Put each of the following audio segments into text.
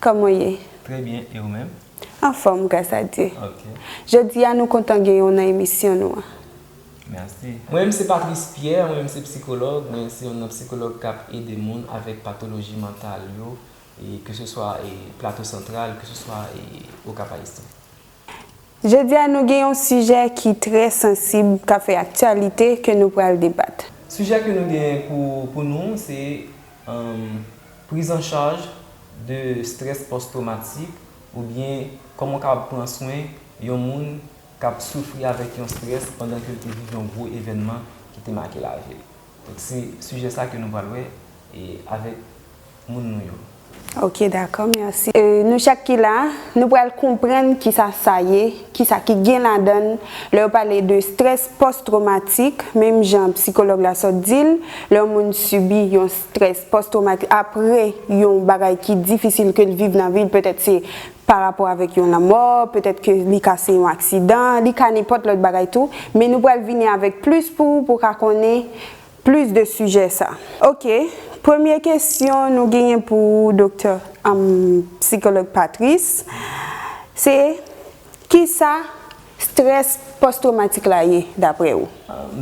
Kòman w ye? Trè byen, e ou menm? Anfòm, gras a Dye. Ok. Jodi a nou kontan genyen w nan emisyon nou an. Mèsi. Mwen menm se Patrice Pierre, mwen menm se psikològ, mwen se youn nan psikològ k ap ede moun avèk patoloji mantal yo, e keseswa e Plato Santral, keseswa e Okap Ayisyen. Jodi a nou gen yon sijè ki trè sansib k ap fè aktyalite ke nou pral debat. Sijè ke nou gen pou pou nou se priz an chaj de strès pòs twomatik oubyen kòman w kapab pran swen yon moun k ap soufri avèk yon strès pandan ke l te viv yon gwo evènman ki te make lavi l. Se sijè sa ke nou pral wè avèk moun nou yo. Ok dakò merci. Nou chak ki la, nou pral konprann kisa sa ye, kisa ki gen ladann lè yo pale de strès pòs twomatik, menm jan psikològ la sot di l, lè yon moun sibi yon strès pòs twomatik apre yon bagay ki difisil ke l viv nan vi l, petèt se pa rapò avèk yon lanmò, petèt ke li ka se yon aksidan, li ka nenpòt lòt bagay tou, men nou pral vini avèk plis pou ou pou ka konnen plis de sijè sa. Ok, premye kesyon nou genyen pou ou Doktè, humm, Psikològ Patrice, se kisa strès pòs twomatik la ye daprè ou?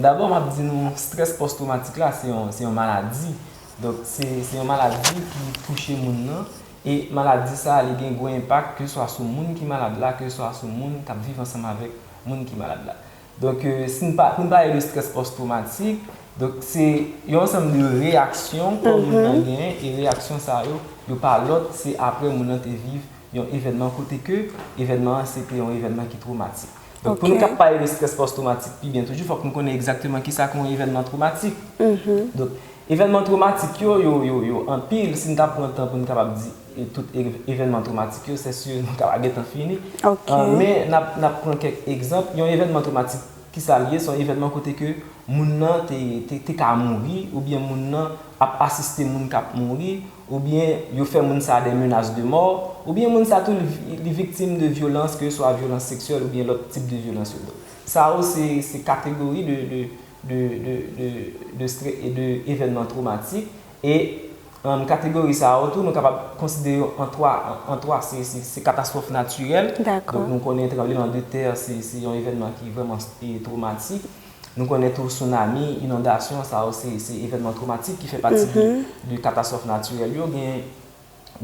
Dabò map di nou strès pòs twomatik la se yon, se yon maladi, donk se yon maladi ki touche moun nan E maladi sa a li gen gwo enpak ke swa sou moun ki malad la, ke swa sou moun k ap viv ansanm avèk moun ki malad la. Donk si n pa, pou n pale de strès pòstwomatik, donk se yon ansanm de reyaksyon kò moun nan genyen e reyaksyon sa yo, yo pa lòt se aprè moun nan te viv yon evènman kote ke evènman an se te yon evènman ki twomatik. Donk pou nou kap pale de strès pòs twomatik pi byen toujou fòk nou konnen egzakteman kisa ki yon evènman twomatik. Donk evènman twomatik yo yo anpil si n ta pran tan pou n kapab di tout evènman twomatik yo sè si nou ta va gentan fini. Men n ap pran kèk egzanp yon evènman twomatik kisa l ye se yon evènman kote ke moun nan te ka mouri oubyen moun nan ap asiste moun k ap mouri. oubyen yo fè moun sa dè menas de mò, oubyen moun sa tou li viktim de vyolans ke swa vyolans seksyèl oubyen lòt tip de vyolans yo. Donk sa yo se kategori de evènman twomatik e kategori sa yo tou nou kapab konsidere yo an 3, se katastwòf natirèl, donk nou konnen tranbleman de tè se yon evènman ki vrèman twomatik, Nou konnen tou tsunami, inondasyon, sa yo se evènman twomatik ki fè pati de katastwòf natirèl yo. Gen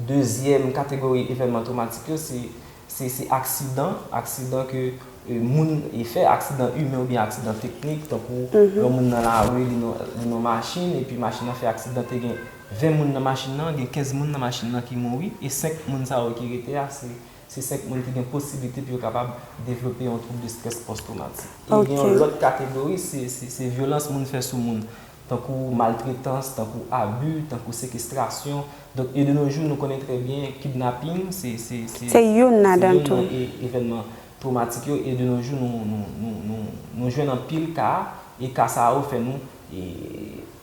dezyèm kategori evènman twomatik yo, se aksidan, aksidan ke moun fè, aksidan imen oubyen aksidan teknik, tankou yon moun nan lari, li nan machin, epi machin nan fè aksidan, te gen 20 moun nan machin nan, gen 15 moun nan machin nan ki mouri, e 5 moun sa yo ki rete a, se. Se 5 moun ki gen posiblite pou yo kapab devlope yon twoub de strès pòstwomatik. E gen yon lòt kategori, se vyolans moun fè sou moun, tankou maltretans, tankou abi, tankou sekestrasyon. Donk e de no jou nou konnen trè byen kidnaping se youn nan evènman twomatik yo e de no jou nou jwenn anpil ka e ka sa yo fè nou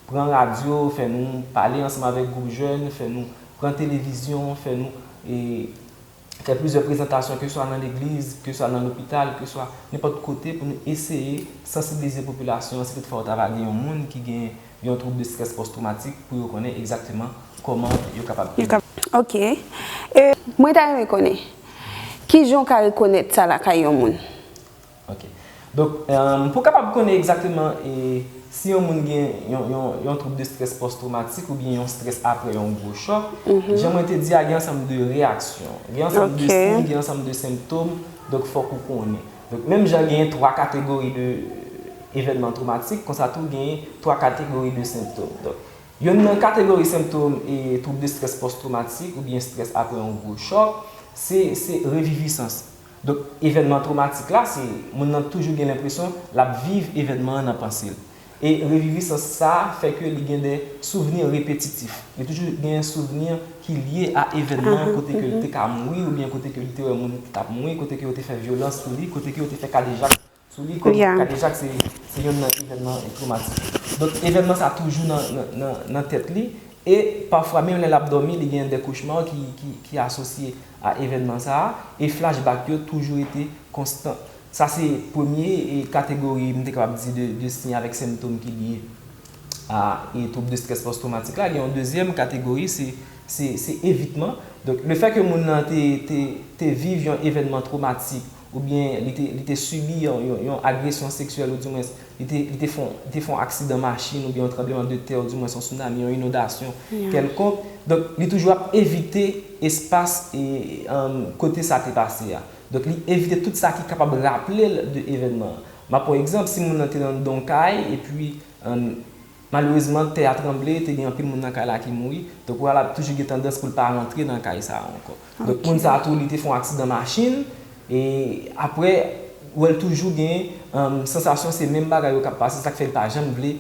pran radyo, fè nou pale ansanm avèk gwoup jèn, fè nou pran televizyon, fè nou fè plizyè prezantasyon keswa nan legliz, keswa nan lopital, keswa nenpòt kote pou nou eseye sansibilize popilasyon an si toutfwa yo ta va gen yon moun ki gen yon twoub de strès pòstwomatik pou yo konnen egzakteman kòman yo kapab ede. Ok. E mwen ta renmen konnen, kijan w ka rekonèt sa lakay yon moun? Ok. Donk, pou kapab konnen egzakteman si yon moun gen yon twoub de strès pòstwomatik oubyen yon strès apre yon gwo chòk, jan mwen te di a gen ansanm de reyaksyon. Gen ansanm de siy, gen ansanm de senptom, donk fòk ou konnen. Donk, menm jan gen 3 kategori de evènman twomatik, konsa tou gen 3 kategori de senptom. Donk, yonn nan kategori senptom twoub de strès pòstwomatik oubyen strès apre yon gwo chòk, se revivisans. Donk, evènman twomatik la, se moun nan toujou gen lenpresyon l ap viv evènman an nan panse l. E revivisans sa a fè ke li gen de souvni repetitif. Li toujou gen souvni ki lye a evènman an kote ke l te ka mouri oubyen kote ke li te wè moun ki t ap mouri, kote ke yo te fè vyolans sou li, kote ke yo te fè kadejak. Sou li kòm kadejak se yonn nan evènman twomatik. Donk evènman sa toujou nan tèt li e pafwa menm lè l ap dòmi li gen dè kochma ki asosye a evènman sa a e flashback yo toujou rete konstan. Sa se premye kategori m te kapab di de siy avèk sentom ki lye a twoub de strès pòstwomatik la. Gen yon dezyèm kategori se evitman. Donk lefè ke moun nan te viv yon evènman twomatik oubyen li te li te sibi yon yon yon agresyon seksyèl ou di mwens li te li te fon li te fon aksidan machin oubyen yon tranbleman de tè ou di mwens yon sounami yon inondasyon kèlkonk donk li toujou ap evite espas e eeanm kote sa te pase a donk li evite tout sa ki kapab raple l de evènman an m ap pran egzanp si moun nan te anndan yon kay epi eeanm Malerezman, tè a tranble, te gen anpil moun nan kay la ki mouri. Donk Oral ap toujou gen tandans pou l pa rantre nan kay sa a ankò. Donk moun sa a tou li te fè yon aksidan machin e aprè wè l toujou gen sansasyon se menm bagay yo k ap pase sa k fè li pa janm vle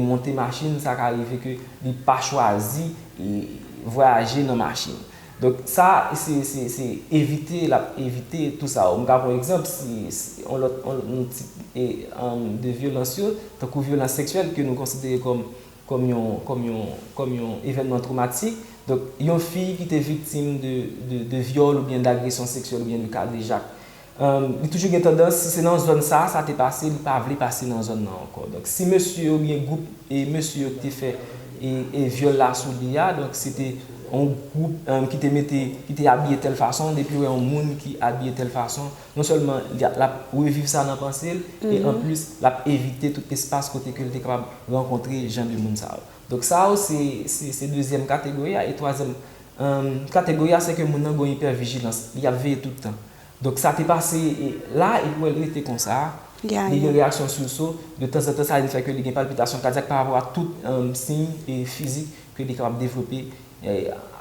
monte machin, sa ka rive ke li pa chwazi vwayaje nan machin. Donk sa se se evite l ap evite tou sa yo. M ka pran egzanp si yon lòt yon tip de vyolans yo tankou vyolans seksyèl ke nou konsidere kòm kòm yon kòm yon kòm yon evènman twomatik. Donk yon fi ki te viktim de de vyòl oubyen dagresyon seksyèl oubyen de kadejak Li toujou gen tandans, si se nan zòn sa a sa te pase, li pa vle pase nan zòn nan ankò. Donk, si mesye yo oubyen gwoup mesye yo ki te fè vyòl la sou li a, donk se te yon gwoup ki te mete, ki te abiye tèl fason, depi yo wè yon moun ki abiye tèl fason, non sèlman l ap reviv sa nan panse l, e anplis l ap evite tout espas kote ke l te kapab rankontre jan de moun sa yo. Donk sa yo se dezyèm kategori a. E twazyèm Kategori a se ke moun nan gon ipèvijilans, li ap veye tout tan. Donk sa te pase la a epi wè l rete konsa a, li gen reyaksyon sursaut, de tanzantan sa vin fè ke li gen palpitasyon kadyak pa rapò a tout siy fizik ke li kapab devlope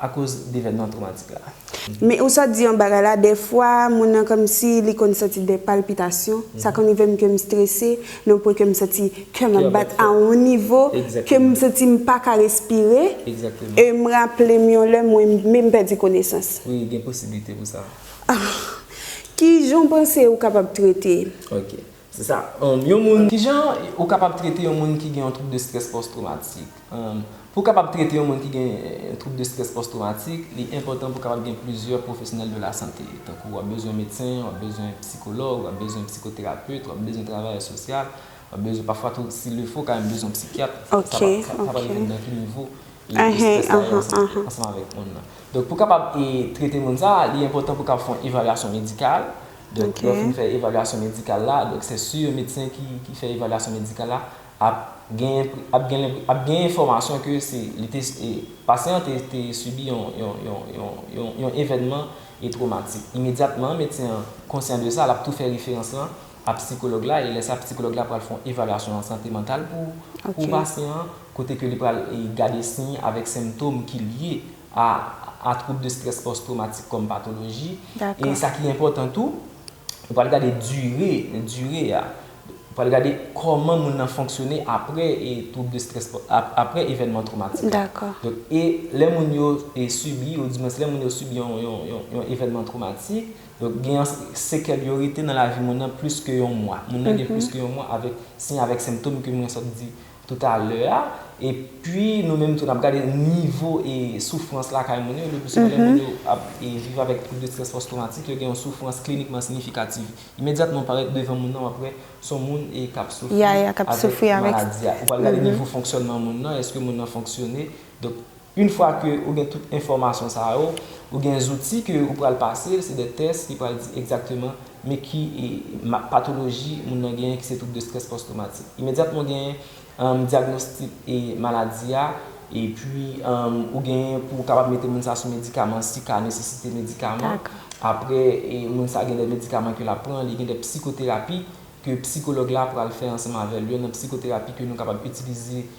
akoz devènman twomatik la. Men ou sot di yon bagay la, dèfwa moun nan kòmsi li konn santi dè palpitasyon, sa konn rive m ke m strese, Nan yon pwen ke m santi kè m ap bat a yon nivo ke m santi m pa ka respire e m raple m yon lè mwen menm pèdi konesans. Wi, gen posiblite pou sa. Ki jan w panse ou kapab trete? Ok. Se sa. Yon moun. Ki jan ou kapab trete yon moun ki gen yon twoub de strès pòs twomatik? Pou w kapab trete yon moun ki gen twoub de strès pòs-twomatik, li enpòtan pou w kapab gen plizyè pwofesyonèl de lasante. Tankou w ap bezwen medsen, w ap bezwen psikològ, w ap bezwen psikoterapet, w ap bezwen travayè sosyal, w ap bezwen pafwa tou, si lefè, w ka menm bezwen yon psikyat. Sa pral depann nan ki nivo strès sa ye ansanm avèk moun nan. Donk pou w kapab trete moun sa, li enpòtan pou w kapab fè yon evalyasyon medikal. Donk lè w fin fè evalyasyon medikal la, donk se si yon medsen ki fè evalyasyon medikal la, Ap gen enfòmasyon ke pasyan an te sibi yon evènman twomatik. Imedyatman, medsen an konsyan de sa, l ap tou fè referans lan a psikològ la e lè sa psikològ la pral fè yon evalyasyon sante mantal pou pasyan an kote ke li pral gade siy avèk sentom ki lye a twoub de strès pòs twomatik kòm patoloji e sa ki enpòtan tou, ou pral gade dire a. Pral gade kòman moun nan fonksyone apre twoub de strès apre evènman twomatik la. Donk e lè moun yo sibi ou di mwens lè moun yo sibi yon evènman twomatik, donk gen yon sekèl yo rete nan lavi moun nan plis ke yon mwa. Moun nan gen plis ke yon mwa avèk siy avèk senptom ke mwen sot di. tout a lè a e pwi nou menm tou nap gade nivo e soufrans lakay moun yo, lepli souvan lè moun yo ap viv avèk twoub de strès pòs twomatik yo gen yon soufrans klinikman siyifikativ imedyatman parèt devan moun nan wap wè son moun e kap soufri avèk maladi a ou pral gade nivo fonksyònman moun nan eske moun nan fonksyone donk. Une fwa ke ou gen tout enfòmasyon sa yo, ou gen zouti ke ou pral pase, se de tès ki pral di egzakteman men ki patoloji moun nan genyen ki se twoub de strès pòstwomatik. Imedyatman ou genyen dyagnostik maladi a, epi ou genyen pou ou kapab mete moun sa sou medikaman si ka nesesite medikaman. Apre moun sa gen de medikaman ke lap pran, li gen de psikoterapi ke psikològ la pral fè ansanm avèl. Youn nan psikoterapi ke nou kapab itilize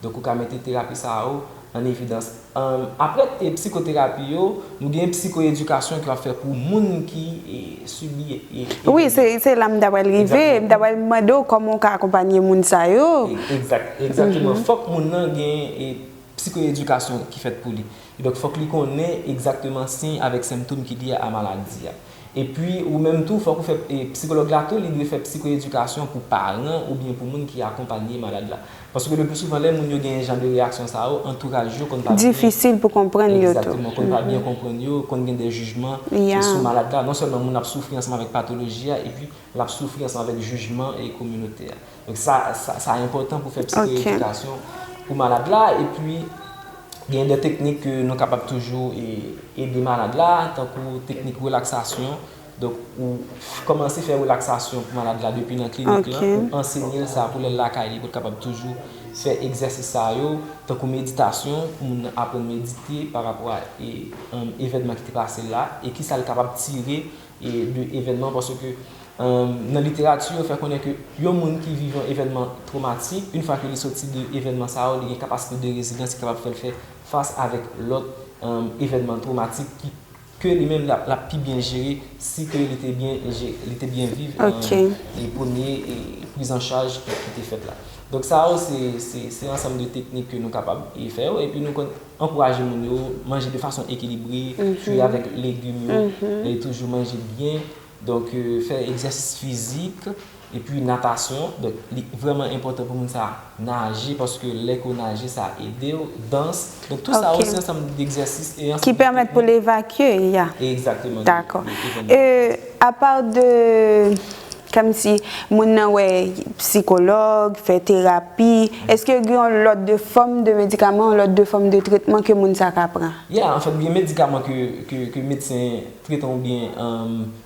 Donk ou ka mete terapi sa yo an evidans. Apre psikoterapi yo, nou gen psikoedikasyon ke w ap fè pou moun ki sibi evenman. Wi, se la m ta pral rive. M ta pral mande w kòman w ka akonpanye moun sa yo. Egzakteman. Fòk moun nan gen psikoedikasyon ki fèt pou li. Donk fòk li konnen egzakteman siy avèk senptom ki lye a maladi a. Epi ou menm tou fòk ou fè psikològ la tou li dwe fè psikoedikasyon pou paran oubyen pou moun ki akonpanye malad la. Paske le pli souvan lè moun yo gen jan de reyaksyon sa yo antouraj yo konn pa byen. Difisil pou konprann yo tou. Egzakteman, konn pa byen konprann yo, konn gen de jijman sou malad la. Non sèlman moun ap soufri ansanm avèk patoloji a epi L ap soufri ansanm avèk jijman e kominote a. Donk sa sa enpòtan pou fè psikoyedikasyon pou malad la. Epi gen de teknik ke nou kapab toujou ede malad la tankou teknik relaksasyon. Donk ou kòmanse fè relaksasyon pou malad la depi nan klinik lan. Ou ansenye l sa pou lè l lakay li pou l kapab toujou fè egzèsis sa yo. Tankou meditasyon pou moun nan aprann medite parapò a evènman ki te pase l la e kisa l kapab tire de evènman paske nan literati yo fè konnen ke yon moun ki viv yon evènman twomatik yn fwa ke li soti de evènman sa yo li gen kapasite de rezilans ki kapab fèl fè fas avèk lòt evènman twomatik ki ke li menm lap pi byen jere si ke li te byen jere li te byen viv premye priz an chaj ki te fèt la donk sa yo se ansanm de teknik ke nou kapab fè yo epi nou konn. Ankouraje moun yo manje de fason ekilibre, fwi avèk legim yo, e toujou manje byen. Donk, fè egzèsis fizik, epi natasyon. Donk, li vrèman enpòtan pou moun sa a naje, paske lè ke ou naje sa ede ou. Dans, donk tou sa yo se ansanm degzèsis e ansanm de teknik. Ki pèmèt pou l evakye, ya. Egzakteman. Dakò. Apa de. Kmsi moun nan wè psikològ, fè terapi, eske yo gen yon lòt de fòm de medikaman, yon lòt de fòm de tretman ke moun sa ka pran? Yeah, anfèt gen medikaman ke medsen tretan oubyen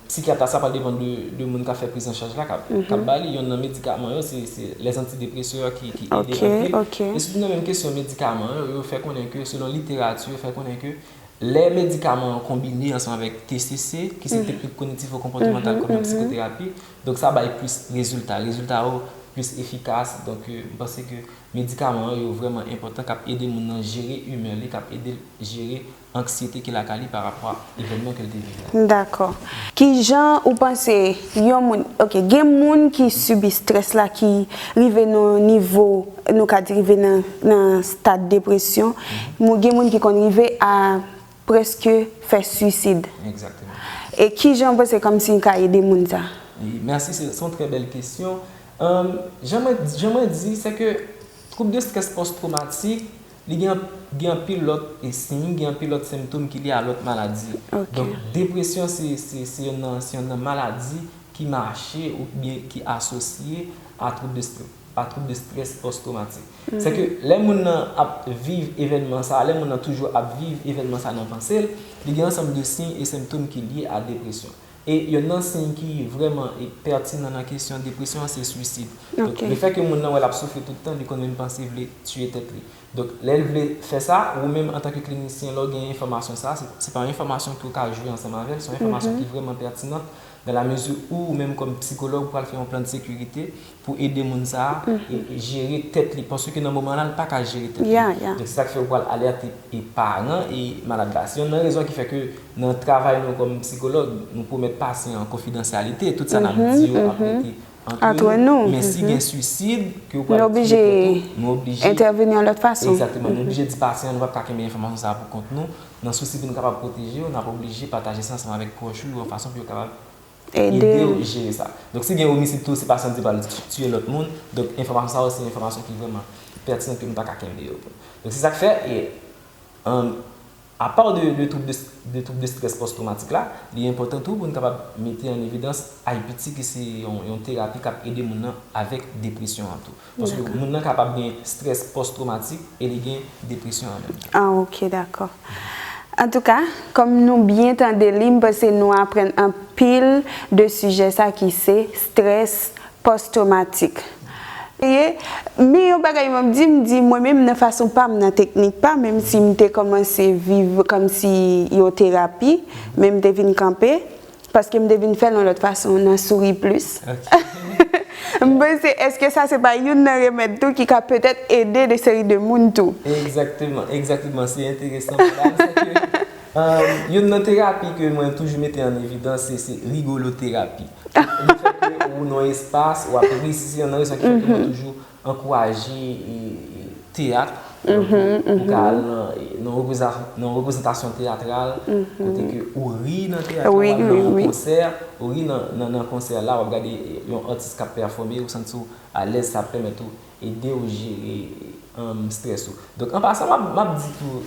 psikyat la, sa pral depan de moun kap fè prizanchaj la kap ba li. Yonn nan medikaman yo se les antidépresseurs ki ede anpil. E sitou nan menm kesyon medikaman yo, yo fè konnen ke selon literati yo fè konnen ke Lè medikaman an konbine ansanm avèk TCC, ki se teknik kognitivo-konpòtemantal kòm yon psikoterapi, donk sa bay plis rezilta. Rezilta yo plis efikas, donk m panse ke medikaman an yo vrèman enpòtan k ap ede moun nan jere imè li, k ap ede l jere anksyete ki lakay li parapò a evènman ke l te viv la. Dakò. Ki jan ou panse yon moun, ok gen moun ki sibi strès la ki rive nan yon nivo Nou ka drive nan stad depresyon. Mou gen moun ki konn rive a preske fè suisid. Exactement. E ki jan ou panse Kamsin ka ede moun sa? Wi, merci se yon trè bèl kesyon. Jan mwen, jan mwen di, se ke twoub de strès pòs twomatik, li gen, gen anpil lòt e siy, gen anpil lòt senptom ki lye a lòt maladi. Ok. Donk depresyon se, se, se yonn nan, se yonn nan maladi ki mache oubyen ki asosye a twoub de strès. pa twoub de strès pòs twomatik. Sè ke lè moun nan ap viv evènman sa a, lè moun nan toujou ap viv evènman sa a nan panse l, li gen ansanm de siy e senptom ki lye a depresyon. E yonn nan siy ki vrèman pètinan nan kesyon depresyon an se swisid. Donk, le fè ke moun nan wè l ap soufri tout tan, li konn menm panse vle tiye tèt li. Donk, lè l vle fè sa, ou menm antanke klinisyen, lè w gen enfòmasyon sa a, se pa yon enfòmasyon ke w ka jwe ansanm avè l, se yon enfòmasyon ki vrèman pètinan, dan la mezi ou, ou menm kòm psikològ, ou pral fè yon plan de sekirite pou ede moun sa a jere tèt li paske nan moman la l pa ka jere tèt li donk se sa k fè ou pral alète paran e malad la se yonn nan rezon ki fè ke nan travay nou kòm psikològ nou pwomèt pasyan an konfidansyalite tout sa n ap di yo ap rete antre nou men si gen swisid ke ou pral touye tèt ou nou oblije entèveni yon lòt fason egzakteman nou oblije di pasyan an nou pa ka kenbe enfòmasyon sa a pou kont nou nan sousi pou nou kapab pwoteje ou n ap oblije pataje sa ansanm avèk pwòch ou yon fason pou yo kapab edew jere sa. Donk si gen omisid tou se pa santi pral tiye lòt moun, donk enfòmasyon sa yo se enfòmasyon ki vrèman pètinan ke nou pa ka kenbe yo pou nou. Donk se sak fè e apaw de twoub de strès pòs twomatik la, li enpòtan tou pou nou kapab mete an evidans IPT ki se yon terapi kap ede moun nan avèk depresyon an tou. Paske moun nan kapab gen stress post traumatique e li gen depresyon an menm tan. Ah ok dakò. Antouka, kòm nou byen tande li, m panse nou aprann anpil de sijè sa ki se stress post traumatique. Men yon bagay map di, m di mwen menm nan fason pa m, nan teknik pa m, menm si m te kòmanse viv kòmsi yon terapi, men m te vin kanpe, Paske m te vin fè l yon lòt fason nan souri plis. M panse eske sa se pa youn nan remèd tou ki ka petèt ede de seri de moun tou. Egzakteman, egzakteman. Se enteresan madam. Se ke youn nan terapi ke mwen toujou mete an evidans se se rigoloterapi. Ou nan espas, ou ap ri, si se yon nan reyisyon ki fè ke mwen toujou. Ankouraje teyat pou ka al nan reprezantasyon teyatral kote ke ou ri nan teyat la, ou al nan yon konsè, ou ri nan konsè la, wap gade yon atis kap pèfome, ou santi w alèz sa ap pèmèt ou ede ou jere strès ou. Donk an pasan map di tou.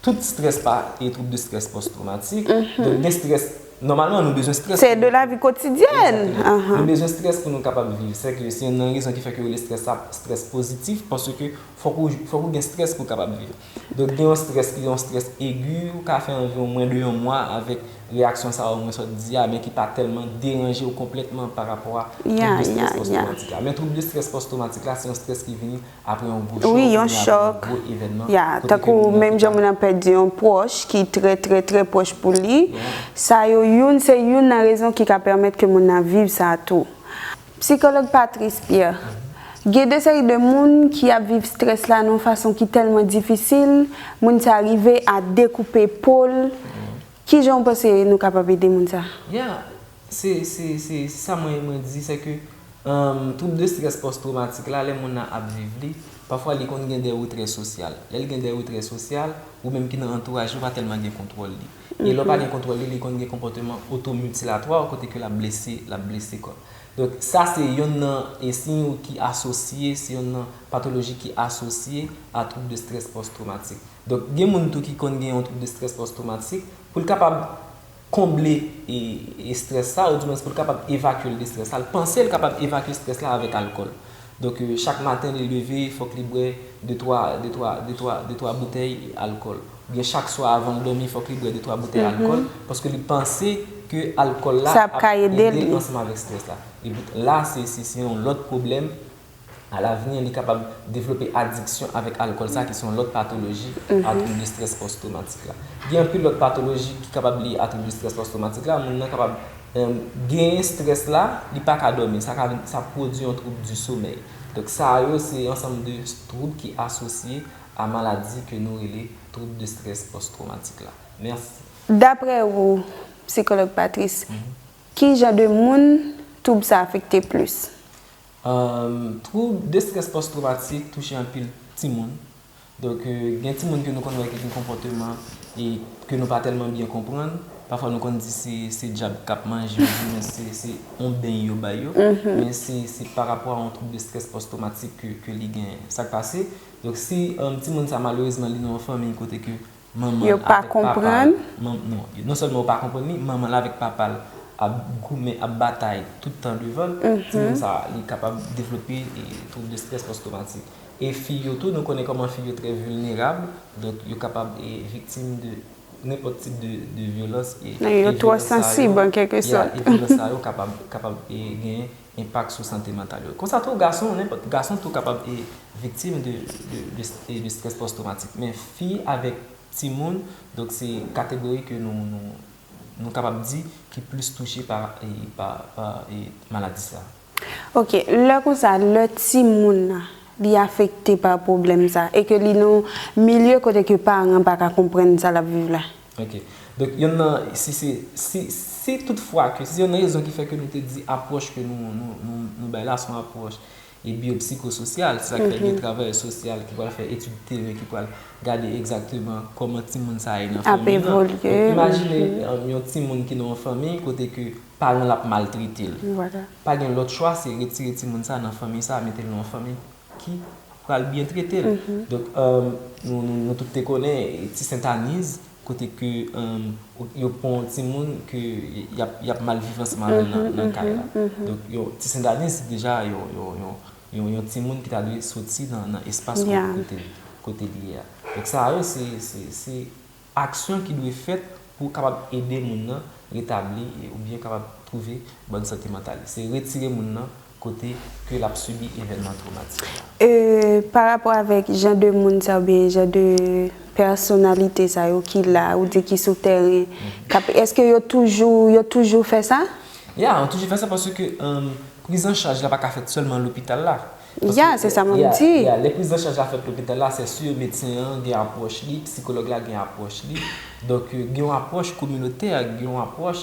Tout stress pa e trouble de stress post traumatique. Donk gen stress, normalman nou bezwen stress. Se de la vie quotidienne. Exactement. Nou bezwen stress pou nou kapab viv. Se ke se youn nan rezon ki fè ke yo rele stress sa stress positif paske fòk ou fòk ou gen stress pou kapab viv. Donk gen yon stress ki yon stress aigu ou ka fè anviwon mwen de yon mwa avèk reyaksyon sa yo mwen sot di a men ki pa tèlman deranje ou konplètman pa rapò a trouble de stress post traumatique la. Men trouble de stress post traumatique la se yon stress ki vini Apre yon gwo chòk oubyen apre yon gwo evènman, kote ke moun nan te ka. Pèdi yon pwòch ki trè trè trè pwòch pou li, sa yo youn se youn nan rezon ki ka pèmèt ke moun nan viv sa tou. Psikològ Patrice Pierre, Gen de seri de moun ki ap viv strès la nan yon fason ki tèlman difisil, moun sa rive a dekoupe po l, kijan ou panse nou kapab ede moun sa? Se se se se sa mwen mwen di se ke twoub de strès pòs twomatik la lè moun nan ap viv li pafwa li konn gen de retrè sosyal lè li gen de retrè sosyal ou menm ki nan antouraj li ou pa tèlman gen kontwòl li e lè ou pa gen kontwòl li li konn gen konpòteman otomitilatwa kote ke lap blese lap blese kò donk sa se yonn nan e siy ou ki asosye se yonn nan patoloji ki asosye a twoub de strès pòs twomatik donk gen moun tou ki konn gen yon twoub de strès pòs twomatik poul kapab konble estrès sa, oudimwens pou l kapab evakye l de estrès la, l panse l kapab evakye estrès la avèk alkòl. Donk, chak maten li leve, fòk li bwè de twa, de twa, de twa, de twa boutèy alkòl. Oubyen chak swa avan l dòmi, fòk li bwè de twa boutèy alkòl, paske li panse ke alkòl la ap ede l ansanm avèk estrès la. Epi, la se yon lòt pwoblèm. A lavni, li kapab devlope adiksyon avèk alkòl sa ki se yon lòt patoloji a twoub estrès pòs-twomatik la. Gen anpil lòt patoloji ki kapab liye a twoub estrès pòs-twomatik la, moun nan kapab genyen estrès la, li pa ka dòmi, sa ka vin, sa pwodui yon twoub di somèy. Donk sa yo se ansanm de twoub ki asosye a maladi ke nou rele twoub de estrès pòs-twomatik la. Mèsi. Daprè ou, Psikològ Patrice, ki jan de moun twoub sa afekte plis? Twoub destrès pòstwomatik touche anpil timoun. Donk, gen timoun ke nou konn wè ki gen konpòteman e ke nou pa tèlman byen konprann. Pafwa nou konn di se dyab k ap manje yo oubyen se yon beny yo bay yo. Men se parapò a yon twoub destrès pòstwomatik ke li genyen. Sa k pase? Donk, si timoun sa malerezman li nan yon fanmi kote ke Manman l avèk papa l, non sèlman yo pa konprann li, manman l avèk papa l ap goumen, ap batay tout tan devan l, timoun sa a li kapab devlope twoub de strès pòs twomatik. E fi yo tou, nou konnen kòman fi yo trè vilnerab, donk yo kapab viktim de nenpòt tip de vyolans e vyolans sa yo kapab genyen enpak sou sante mantal yo. Konsa tou gason, nenpòt gason tou kapab viktim de strès pòs twomatik. Men fi avèk timoun, donk se kategori ke nou kapab di ki plis touche pa maladi sa. Ok, lè konsa, lè timoun nan li afekte pa pwoblèm sa e ke li nan yon milye kote ke paran pa ka konprann sa l ap viv la? Ok. Donk yonn nan, si se, si, si tout fwa ke, si se yonn rezon ki fè ke nou te di apwòch ke nou, nou, nou, nou bay la se yon apwòch e biyopsikososyal, se sa ki fè gen travayè sosyal ki pral fè etid teren, ki pral gade egzakteman kòman timoun sa a ye nan fanmi nan. Donk imajine yon timoun ki nan yon fanmi kote ke paran l ap maltrete l. Pa gen lòt chwa se retire timoun sa a nan fanmi sa a mete l nan yon fanmi ki pral byen trete l. Donk nou tout te konnen ti sentaniz kote ke yo pran yon timoun ke y ap mal viv ansanm avè l nan kay la. Donk ti sentaniz se deja yon timoun ki ta dwe soti nan espas kote li ye a. Donk sa yo se. Aksyon ki dwe fèt pou kapab ede moun nan retabli oubyen kapab twouve bòn sante mantal li, se retire moun nan kote ke l ap sibi evènman twomatik la. E pa rapò avèk jan de moun sa oubyen jan de pèsonalite sa yo ki la, ou di ki sou tèren, k ap, èske yo toujou, yo toujou fè sa? Ya, yo toujou fè sa paske prizanchaj la pa ka fèt sèlman lopital la. Yeah, se sa mwen ap di. Yeah, lè priz an chaj la fèt lopital la, sè sur medsen an gen apwòch li, psikològ la gen apwòch li. Donk, gen yon apwòch kominotè, gen yon apwòch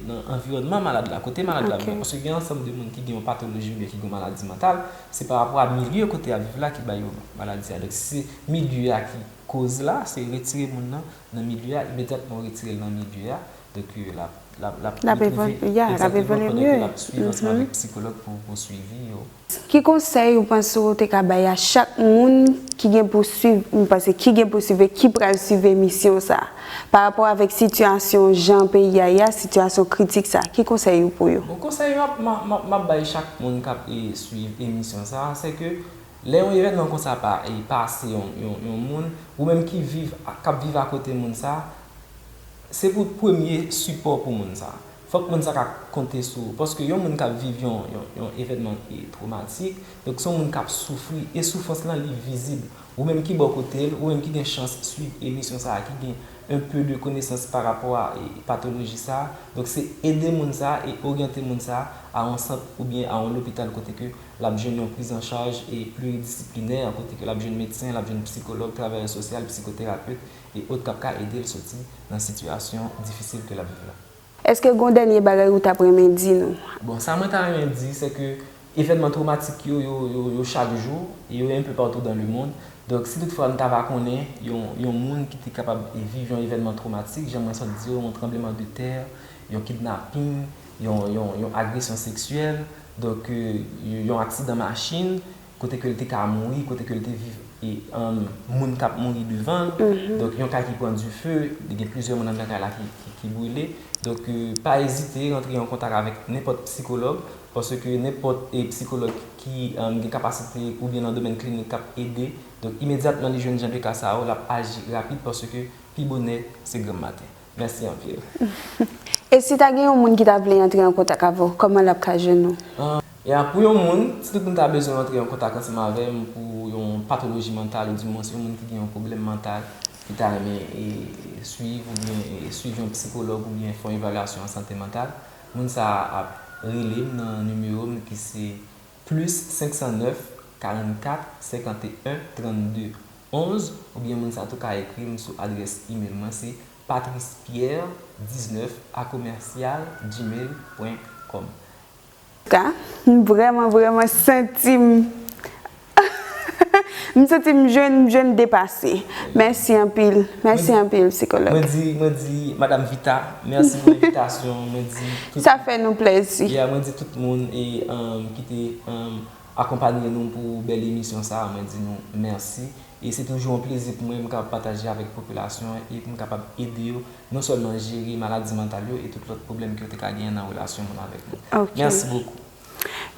nan anviwònman malad la, kote malad la viv. Paske gen yon ansanm de moun ki gen yon patoloji oubyen ki gen yon maladi mantal, se pa rapò a milye kote y ap viv la ki ba yo maladi a. Donk, si se milye a ki koz la, se retire moun nan nan milye a, imedyatman ou retire l nan milye a, donk, l ap, l ap, l ap, li pwouve, egzatteman, pandan ke l ap swiv ansanm avèk psikològ pou swivi yo. Ki konsèy ou panse ou te ka bay a chak moun ki gen pou swiv, m panse ki gen pou swiv e ki pral swiv emisyon sa a, pa rapò avèk sitiyasyon jan peyi a ye a, sitiyasyon kritik sa a, ki konsèy ou pou yo? Bon konsèy m ap, m ap, m ap bay chak moun k ap swiv emisyon sa a, se ke lè yon evènman konsa pa pase yon, yon, yon moun, ou menm ki viv, k ap viv akote moun sa a, se pou w t premye sipò pou moun sa a. Fòk moun sa ka konte sou ou. Paske yon moun k ap viv yon yon evènman twomatik, donk se yon moun k ap soufri e soufrans lan li vizib. Ou menm ki bò kote l, ou menm ki gen chans suiv emisyon sa a, ki gen un peu de konesans pa rapò a patoloji sa a, donk se ede moun sa a e oryante moun sa a yon sant oubyen a yon lopital kote ke l ap jwenn yon prizanchaj e pliridisiplinè, kote ke l ap jwenn medsen, l ap jwenn psikològ, travayè sosyal, psikoterapet e ot k ap ka ede l soti nan sitiyasyon difisil ke l ap viv la. Eske gon dènye bagay ou tap renmen di nou? Bon, sa mwen ta renmen di, se ke evènman twomatik yo, yo chak jou, e yo enpe patou dan le mond. Donk, si tout fwa nou ta va konnen yon moun ki te kapab viv yon evènman twomatik, jan mwen sot di yo, yon tranbleman de tè, yon kidnaping, yon agresyon seksyèl, donk, yon aksidan machin, kote ke l te ka mouri, kote ke l te viv e moun k ap mouri devan l. Donk yon kay ki pran dife, li gen plizyè moun anndan kay la ki brile. Donk pa ezite rantre an kontak avèk nenpòt psikològ paske nenpòt psikològ ki gen kapasite oubyen nan domèn klinik k ap ede. Donk imedyatman li jwenn jan de ka sa yo, l ap aji rapid paske pi bonè se granm maten. Mèsi anpil. E si ta gen yon moun ki ta vle antre an kontak avè w, kòman l ap ka jwenn ou? Ya, pou yon moun, si tout moun ta bezwen antre an kontak ansanm avè m pou yon patoloji mantal oudimwens yon moun ki gen yon pwoblèm mantal ki ta renmen swiv oubyen swiv yon psikològ oubyen fè yon evalyasyon an sante mantal, moun sa a ap rele m nan nimewo m ki se plis 509 44 51 32. 11 oubyen moun sa tou ka ekri m sou adrès imel mwen se patricepierre 19 a commercial gmail pwen kòm. K, M vrèman vrèman santi m M santi m jwenn m jwenn depase Mèsi anpil Mèsi anpil psikològ. Mwen di mwen di madam Vita mèsi pou envitasyon an mwen di tout Sa fè nou plèzi. Yeah mwen di tout moun e ki te akonpanye nou pou bèl emisyon sa a mwen di nou mèsi e se toujou yon plezi pou mwen m kapab pataje avèk popilasyon an e pou m kapab ede yo non sèlman jere maladi mantal yo e tout lòt pwoblèm ke yo te ka genyen nan relasyon moun avèk moun. Mèsi bokou.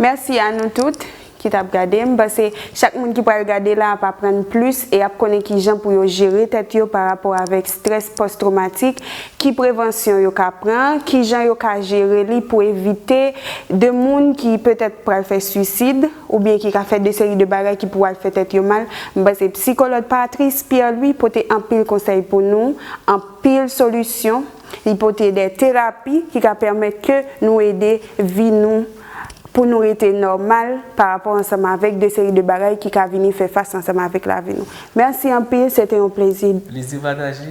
Mèsi a nou tout ki t ap gade. M panse chak moun ki pral gade la ap aprann plis e ap konnen kijan pou yo jere tèt yo parapò avèk strès pòs twomatik Ki prevansyon yo ka pran? Ki jan yo ka jere li pou evite de moun ki petèt pral fè swisid, oubyen ki ka fè de seri de bagay ki pou al fè tèt yo mal? M panse psikolòd Patrice Pierre Louis pote anpil konsèy pou nou, anpil solisyon, li pote de terapi ki ka pèmèt ke nou ede vi nou pou nou rete nòmal pa rapò ansanm avèk de seri de bagay ki ka vini fè fas ansanm avèk lavi nou. Mèsi anpil, se te yon plezi. Plezi pataje,